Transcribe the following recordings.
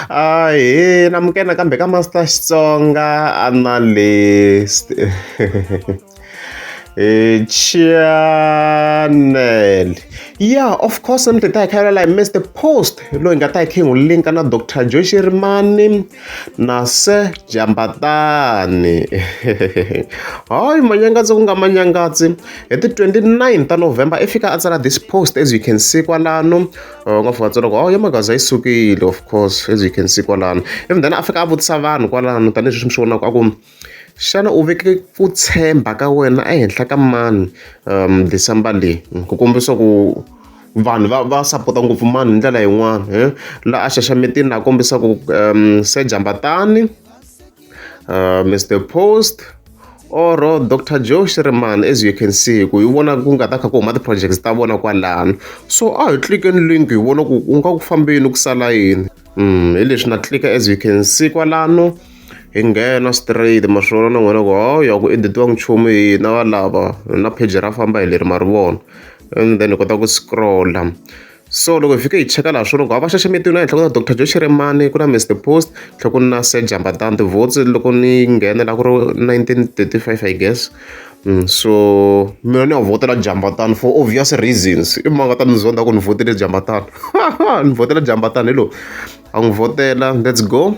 Ahee namke nakambe ka Master Xitsonga analyst eh, channel yeah of course mi tita hi khayela laha mr post loyi nga ta hi khingu linka na dr joshi rimani na se jambatani hayi manyangatsi ku nga manyangatsi hi ti 29 ta november i fika a tsala this post as you can see kwalano va nga fika tsona ku oh ya magaza yi sukile of course as you can see kwalano even then a fika a vutisa vanhu kwalano tanihileswi mi swi vonaka a ku xana u veke ku tshemba ka wena ehenhla ka mani um december leyi ku kombisa ku vanhu va va sapota ngopfu mani hi ndlela yin'wana eh? la a xaxametini a kombisa ku um se jambatani uh, mr post or dr joe shirman as you can see ku hi vona ku nga ta kha ku huma ti-projects ta vona kwalano so a hi tlikeni link hi vona ku ku nga ku fambeni ku sala yini um hi leswi na tlika as you can see kwalano hi nghena straight maswona na n'wina ku hawu ya ku editiwa nchumu hina valava na page ra famba hi leri ma ri vona and then hi kota ku scrolla So loko hi fike hi cheka laha swirho va xaxametiwile ehenhla ku na Dr Joe Shirimani ku na Mr Post tlhe ku na Sir Jambatan tivotes loko ni nghena la ku ri 1935 i guess mm, so mina ni ya vhotela Jambatan for obvious reasons i manga ta ni zonda ku ni vhotele Jambatan ni vhotela Jambatan hi lo a n'wi vhotela let's go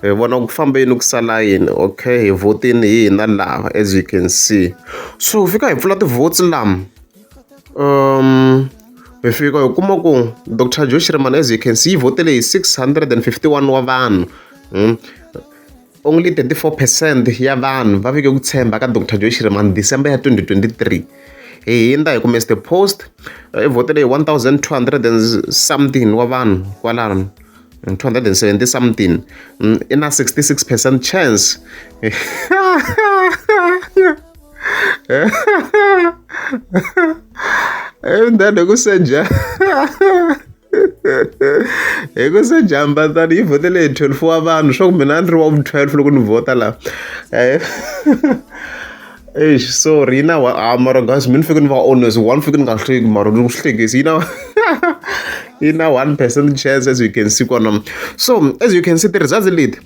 hi vona ku famba yini ku sala yini okay hi vhotini hi hina laha as you can see so hi fika hi pfula tivotes lama um hi fika hi kuma ku dr joe shirman as you can see yi votele hi 651 wa vanhu hmm? only 34 percent ya vanhu va vike ku tshemba ka dr joe shirman december ya 2023 hi hindza hi kume the post i votele hi 1200 and something wa vanhu kwalano 270 something mm, in a 66 percent chance and then ku senja hi ku se jamba tani yi vhotele hi 12 wa vanhu swa ku mina a ni ri wa vu 12 loko ni vhota laha Eish, sorry, you know what? Ah, mara guys, mina fike ni va honest, one fike ni nga hleki mara ni ku hlekisi, you know. you know, one percent chance as you can see kona. So, as you can see, the results lead.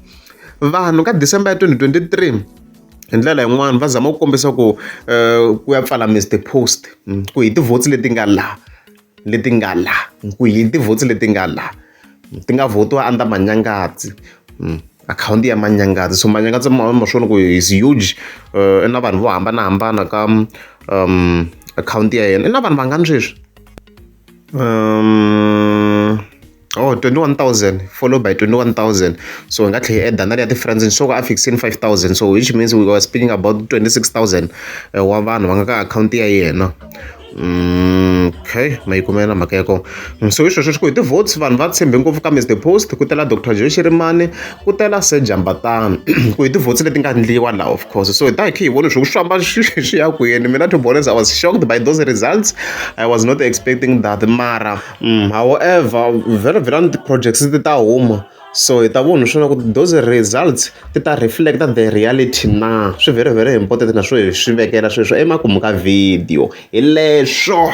Vanhu ka December ya 2023 hi ndlela yin'wana va zama ku kombisa ku eh, ku ya pfala Mr Post mm, ku hi ti-votes leti nga laha leti nga la ku hi tivhoti leti nga la ti nga vhotiwa under manyangatsi hmm, akhawunti ya manyangatsi so manyangatsi ma ma swona ku is huge uh, na vanhu vo hambanahambana ka um akhawunti ya yena i na vanhu vangani sweswi um Oh, 21,000 followed by 21,000. So nga tlhe add na ya ti friends so ka fixing 5,000. So which means we were speaking about 26,000 eh, wa vanhu va nga ka account ya yena. Mm, okay mayikumela mhaka ya kona mm, so hi sweswo swi ku hi ti-votes vanhu va tshembe ngopfu ka mr post ku tela dr joe xirimani ku tela se jambatana ku hi ti-votes leti nga ndliwa laha of course so hi ta hi khe hi vone swi ku swamba swi ya kwini mina to be honest i was shocked by those results i was not expecting that mara However very vhelela ti-projects ti ta huma so hi ta vona swona ku ri those results ti ta reflect-a the reality na. Swi very very important na swo hi swi vekela sweswo emakumu ka video, hi leswo.